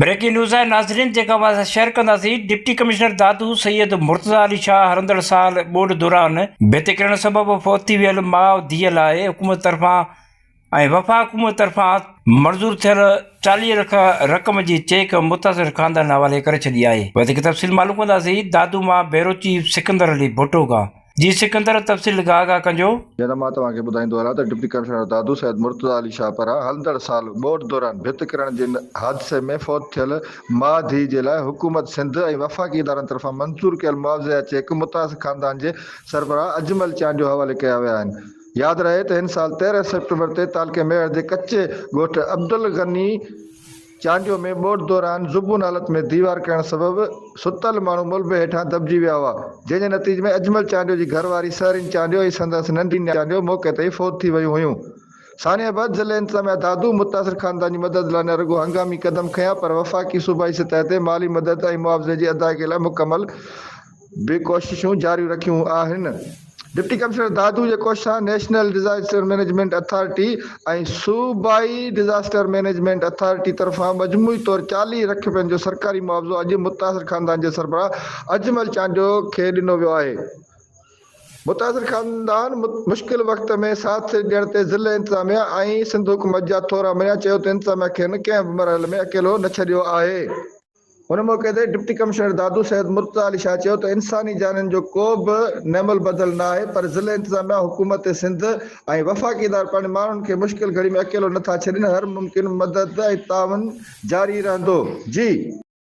Breaking news آهي ناظرين جيڪا اوهان سان شيئر ڪنداسين ڊپٽي ڪمشنر دادو سيد مرتضيٰ علي شاهه هلندڙ سال ٻوڏ دوران ڀت ڪرڻ سبب فوت ٿي ويل ماء ڌيء لاء حڪومت طرفان ۽ وفاق حڪومت طرفان منظور ٿيل چاليهه لک رقم جي چيڪ متاثر خاندان حوالي ڪري ڇڏي آهي وڌيڪ تفصيل معلوم ڪنداسين دادو مان بيورو چيف سڪندر علي ڀٽو کان. جي سڪندر تفصيل گاهه گاهه ڪنجو. جناب مان توهان کي ٻڌائيندو هلان ته ڊپٽي ڪمشنر دادو سيد مرتضيٰ علي شاهه پران هلندڙ سال ٻوڏ دوران ڀت ڪرڻ جي حادثي ۾ فوت ٿيل ماء ڌيء جي لاء حڪومت سنڌ ۽ وفاقي ادارن طرفان منظور ڪيل معاوضي جا چيڪ متاثر خاندان جي سربراهه اجمل چانڊيو حوالي ڪيا ويا آهن ياد رهي ته هن سال تيرنهن سيپٽمبر تي تعلقي ميهڙ جي ڪچي ڳوٺ عبدالغني چانڊيو ۾ ٻوڏ دوران زبون حالت ۾ ديوار ڪرڻ سبب ستل ماڻهو ملبي هيٺان دٻجي ويا هئا، جنهن جي نتيجي ۾ اجمل چانڊيو جي گهر واري سهرين چانڊيو ۽ سندس ننڍي نياڻي چانڊيو موقعي تي ئي فوت ٿي ويون هيون. ثانيه آباد ضلعي انتظاميه دادو متاثر خاندان جي مدد لاء نه رڳو هنگامي قدم کنيا پر وفاقي صوبائي سطح تي مالي مدد ۽ معاوضي جي ادائگي لاء مڪمل به ڪوششون جاري رکيون آهن. ڊپٽي ڪمشنر دادو جي ڪوشش سان نيشنل ڊزاسٽر مئنيجمينٽ اٿارٽي ۽ صوبائي ڊزاسٽر مئنيجمينٽ اٿارٽي طرفان مجموعي طور چاليهه لک رپين جو سرڪاري معاوضو اڄ متاثر خاندان جي سربراهه اجمل چانڊيو کي ڏنو ويو آهي. متاثر خاندان مشڪل وقت ۾ ساٿ ڏيڻ تي ضلعي انتظاميه ۽ سنڌ حڪومت جا ٿورا مڃيا، چيو ته انتظاميه کين ڪنهن به مرحلي ۾ اڪيلو نه ڇڏيو آهي. هن موقعي تي ڊپٽي ڪمشنر دادو سيد مرتضيٰ علي شاهه چيو ته انساني جانين جو ڪو به نعمل بدل نه آهي پر ضلعي انتظاميا، حڪومت سنڌ ۽ وفاقي ادارا پنهنجي ماڻهن کي مشڪل گهڙي ۾ اڪيلو نه ٿا ڇڏين، هر ممڪن مدد ۽ تعاون جاري رهندو. جي.